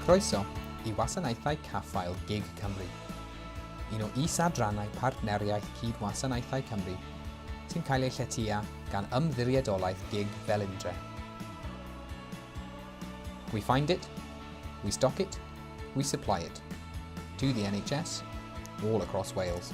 Croeso i Wasanaethau Caffael gig Cymru, un o is-adrannau Partneriaeth Cyd-wasanaethau Cymru sy'n cael ei lletya gan Ymddiriedolaeth gig Felindre. We find it, we stock it, we supply it to the NHS all across Wales.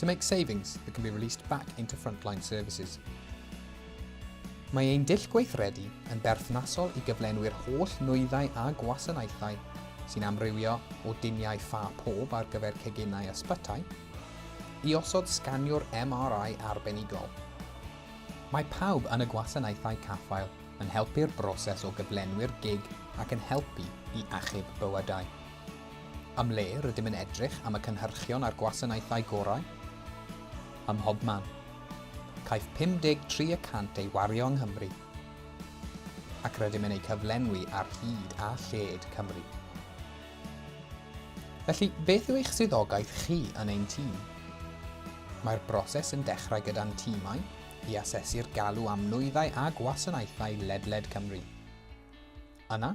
To make savings that can be released back into frontline services. Mae ein dull gweithredu yn berthnasol i gyflenwi'r holl nwyddau a gwasanaethau sy'n amrywio o diniau ffa pob ar gyfer ceginau ysbytai i osod sganiwr MRI arbenigol. Mae pawb yn y gwasanaethau caffael yn helpu'r broses o gyflenwi'r gig ac yn helpu i achub bywydau. Am le rydym yn edrych am y cynhyrchion a'r gwasanaethau gorau? Ym mhobman. Caiff 53 y cant ei wario yng Nghymru. Ac rydym yn eu cyflenwi ar hyd a lled Cymru. Felly, beth yw eich swyddogaeth chi yn ein tîm? Mae'r broses yn dechrau gyda'n tîmau i asesu'r galw am nwyddau a gwasanaethau ledled Cymru. Yna,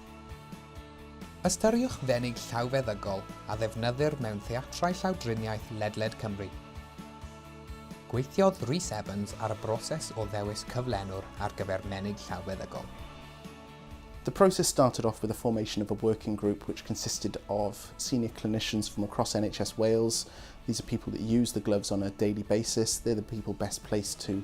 Ystyriwch fenyw llawfeddygol a ddefnyddir mewn theatrau llawdriniaeth ledled Cymru. Gweithiodd Rhys Evans ar y broses o ddewis cyflenwr ar gyfer menyw llawfeddygol. The process started off with a formation of a working group which consisted of senior clinicians from across NHS Wales. These are people that use the gloves on a daily basis. They're the people best placed to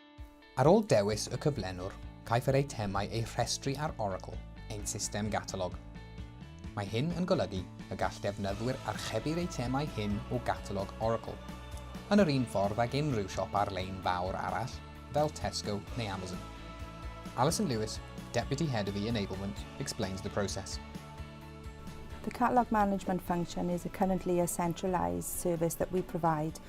Ar ôl dewis y cyflenwr, caiff yr eitemau eu rhestru ar Oracle, ein system gatalog. Mae hyn yn golygu y gall defnyddwyr archebu'r eitemau hyn o gatalog Oracle, yn yr un ffordd ag unrhyw siop ar-lein fawr arall, fel Tesco neu Amazon. Alison Lewis, Deputy Head of e-Enablement, explains the process. The catalog management function is a currently a centralized service that we provide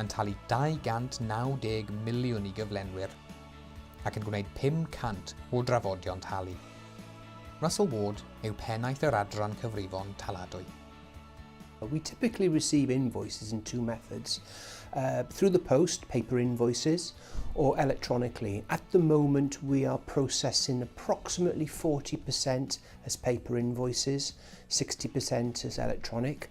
yn talu 290 miliwn i gyflenwyr ac yn gwneud 500 o drafodion talu. Russell Ward yw pennaeth yr adran cyfrifon taladwy. We typically receive invoices in two methods, uh, through the post, paper invoices, or electronically. At the moment, we are processing approximately 40% as paper invoices, 60% as electronic,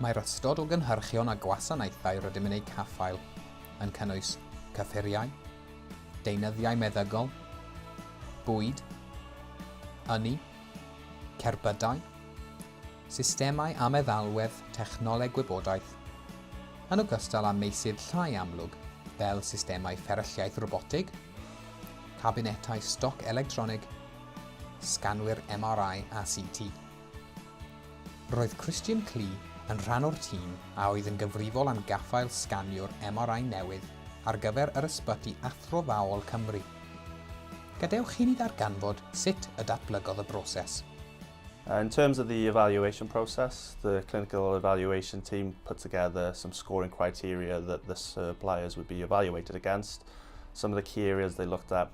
Mae'r ystod o gynhyrchion a gwasanaethau rydym yn eu caffael yn cynnwys cyffuriau, deunyddiau meddygol, bwyd, ynni, cerbydau, systemau a meddalwedd technoleg gwybodaeth, yn ogystal â meysydd llai amlwg fel systemau fferylliaeth robotig, cabinetau stoc electronig, sganwyr MRI a CT. Roedd Christian Klee yn rhan o'r tîm a oedd yn gyfrifol am gaffael sganiwr MRI newydd ar gyfer yr Ysbyty Athrofaol Cymru. Gadewch chi ni ddarganfod sut y datblygodd y broses. In terms of the evaluation process, the clinical evaluation team put together some scoring criteria that the suppliers would be evaluated against. Some of the key areas they looked at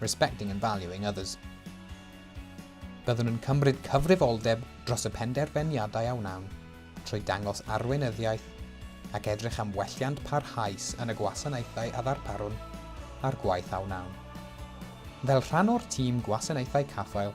respecting and valuing others. Byddwn yn cymryd cyfrifoldeb dros y penderfyniadau a wnawn, trwy dangos arweinyddiaeth ac edrych am welliant parhaus yn y gwasanaethau a ddarparwn a'r gwaith a wnawn. Fel rhan o'r tîm gwasanaethau caffael,